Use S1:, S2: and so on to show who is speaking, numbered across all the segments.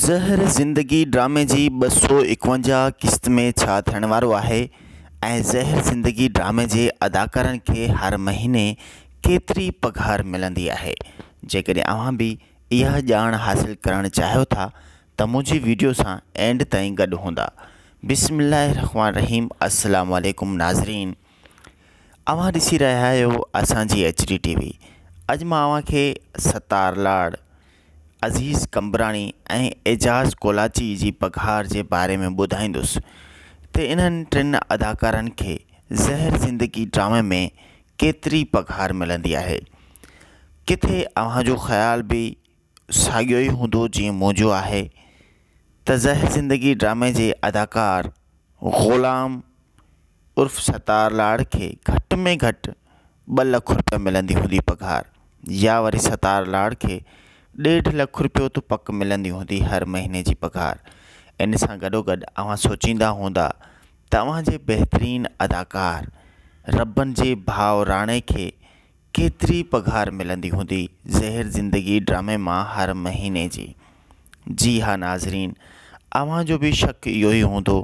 S1: زهر زندگي ڊرامي جي ٻه سؤ اڪونجاهه قسط ۾ ڇا ٿيڻ وارو آهي ۽ زهر زندگي ڊرامي جي اداڪارن کي هر مهيني ڪيتري پگهار ملندي آهي جيڪڏهن اوهان به اها ڄاڻ حاصل ڪرڻ چاهيو ٿا ته منهنجي ويڊيو سان اينڊ تائين گڏ هوندا بسم الله الرحمٰن الرحيم السلام عليڪم ناظرين. اوهان ڏسي رهيا آهيو اسان جي ايچ ڊي ٽي وي اڄ مان اوهان کي ستار لاڙ عزيز قمبراڻي ۽ اعجاز ڪولاچي جي پگهار جي باري ۾ ٻڌائيندس ته انهن ٽن اداڪارن کي زهر زندگي ڊرامي ۾ ڪيتري پگهار ملندي آهي ڪٿي اوهان جو خيال به ساڳيو ئي هوندو جيئن منهنجو آهي ته زهر زندگي ڊرامي جي اداڪار غلام عرف ستار لاڙ کي گهٽ ۾ گهٽ ٻه لک روپيا ملندي هوندي پگهار يا وري ستار لاڙ کي ڏيڍ لک روپيو ته پڪ ملندي هوندي هر مهيني جي پگهار ان سان گڏوگڏ اوهان سوچيندا هوندا ته اوهان جي بهترين اداڪار ربن جي ڀاء راڻي کي ڪيتري پگهار ملندي هوندي زهر زندگي ڊرامي مان هر مهيني جي جي ها ناظرين اوهان جو به شڪ اهو ئي هوندو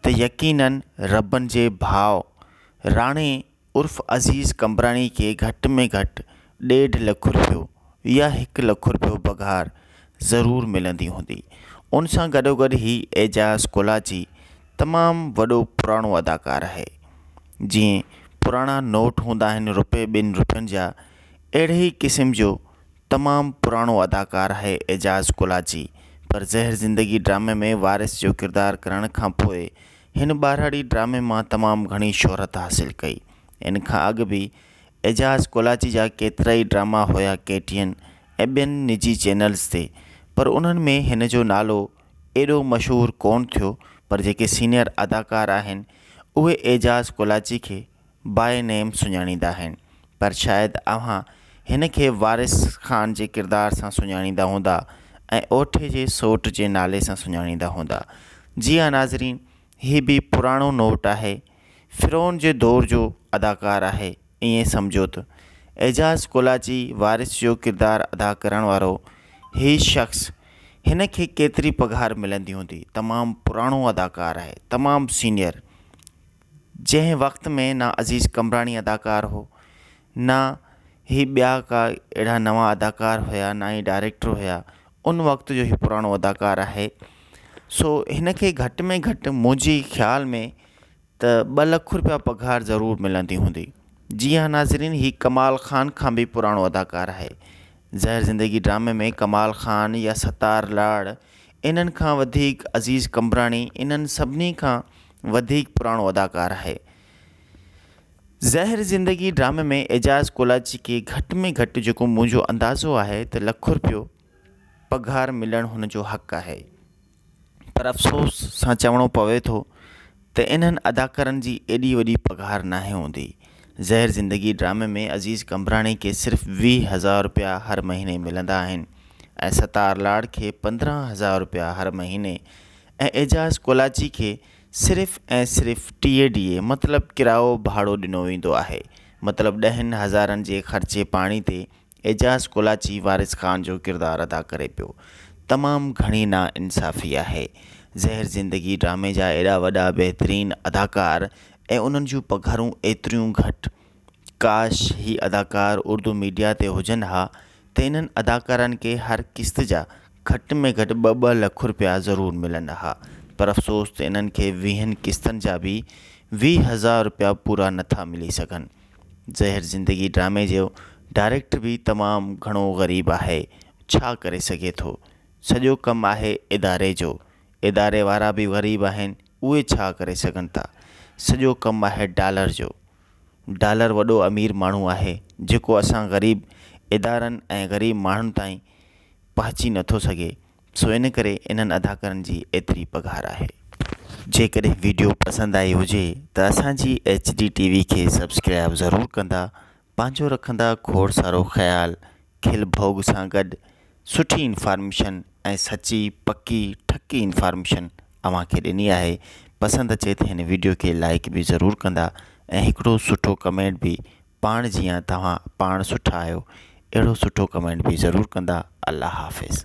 S1: ته يقينن ربن جي ڀاء راڻي عرف عزيز قمبراڻي کي گهٽ ۾ گهٽ ڏيڍ لک روپيو يا هڪ لک روپيو پگهار ضرور ملندي هوندي. ان سان گڏوگڏ هي اعجاز ڪولاچي تمام وڏو پراڻو اداڪار آهي. جيئن پراڻا نوٽ هوندا آهن روپي ٻن روپين جا اهڙي ئي قسم جو تمام پراڻو اداڪار آهي اعجاز ڪولاچي پر زهر زندگي ڊرامي ۾ وارث جو ڪردار ڪرڻ کان پوء هن ٻارهڙي ڊرامي مان تمام گهڻي شهرت حاصل ڪئي ان کان اڳ به اعجاز ڪولاچي جا ڪيترائي ڊراما هيا ڪي ٽي اين ۽ ٻين نجي چينلز تي پر انهن ۾ هن جو نالو ايڏو مشهور ڪون ٿيو پر جيڪي سينيئر اداڪار آهن اهي اعجاز ڪولاچي کي باء نيم سڃاڻيندا آهن پر شايد اوهان هن کي وارث خان جي ڪردار سان سڃاڻيندا هوندا ۽ اوٺي جي سوٽ جي نالي سان سڃاڻيندا هوندا. جي ها ناظرين هي به پراڻو نوٽ آهي فرعون جي دور جو اداڪار آهي ائين سمجهو ته اعجاز ڪولاچي وارث جو ڪردار ادا ڪرڻ وارو هي شخص هن کي ڪيتري پگهار ملندي هوندي تمام پراڻو اداڪار آهي تمام سينيئر جنهن وقت ۾ نه عزيز قمبراڻي اداڪار هو نه هي ٻيا ڪا اهڙا نوان اداڪار هيا نه ئي ڊائريڪٽر هيا ان وقت جو هي پراڻو اداڪار آهي سو هن کي گهٽ ۾ گهٽ منهنجي خيال ۾ ته ٻه لک روپيا پگهار ضرور ملندي هوندي جي ها ناظرين هي ڪمال خان کان به پراڻو اداڪار آهي زهر زندگي ڊرامي ۾ ڪمال خان يا ستار لاڙ انهن کان وڌيڪ عزيز قمبراڻي انهن سڀني کان وڌيڪ پراڻو اداڪار آهي. زهر زندگي ڊرامي ۾ اعجاز ڪولاچي کي گهٽ ۾ گهٽ جيڪو منهنجو اندازو آهي ته لک رپيو پگهار ملڻ هن جو حق آهي پر افسوس سان چوڻو پوي ٿو ته انهن اداڪارن جي ايڏي وڏي پگهار ناهي هوندي. زهر زندگي ڊرامي ۾ عزيز قمبراڻي کي صرف ويهه هزار رپيا هر مهيني ملندا آهن ۽ ستار لاڙ کي پندرهن هزار رپيا هر مهيني ۽ اعجاز ڪولاچي کي صرف ۽ صرف ٽيهه ڊيئي مطلب ڪرايو ڀاڙو ڏنو ويندو آهي مطلب ڏهن هزارن جي خرچي پاڻي تي اعجاز ڪولاچي وارث خان جو ڪردار ادا ڪري پيو تمام گهڻي نا انصافي آهي زهر زندگي ڊرامي جا ايڏا وڏا بهترين اداڪار ۽ انهن جون پگهرون ايتريون گهٽ ڪاش هي اداڪار اردو ميڊيا تي هجن ها ته انهن اداڪارن کي هر قسط جا گهٽ ۾ گهٽ ٻه ٻه لک رپيا ضرور ملن ها پر افسوس ته انهن کي ويهن قسطن جا به ويهه هزار رپيا پورا نٿا ملي سگهن زهر زندگي ڊرامي جو ڊائريڪٽر به تمام گهڻو غريب آهي ڇا ڪري سگهي ٿو سڄو ڪم آهي اداري جو اداري وارا به غريب آهن اهي ڇا ڪري سگهن ٿا سڄو ڪم آهي ڊالر جو. ڊالر وڏو امير ماڻهو آهي جيڪو اسان غريب ادارن ۽ غريب ماڻهن تائين پهچي نٿو سگهي سو ان ڪري انهن اداڪارن جي ايتري پگهار آهي. جيڪڏهن ويڊيو پسند آئي هجي ته اسان جي ايچ ڊي ٽي وي کي سبسڪرائب ضرور ڪندا پنهنجو رکندا کوڙ سارو خيال. کل ڀوڳ سان گڏ سٺي انفارميشن ۽ سچي پڪي ٺڪي انفارميشن اوهان کي ڏني آهي پسند اچي ته هن وڊيو کي لائڪ به ضرور ڪندا ۽ هڪڙو سٺو ڪمينٽ به پاڻ جيان توهان پاڻ سٺا آهيو اهڙو سٺو ڪمينٽ به ضرور ڪندا الله حافظ.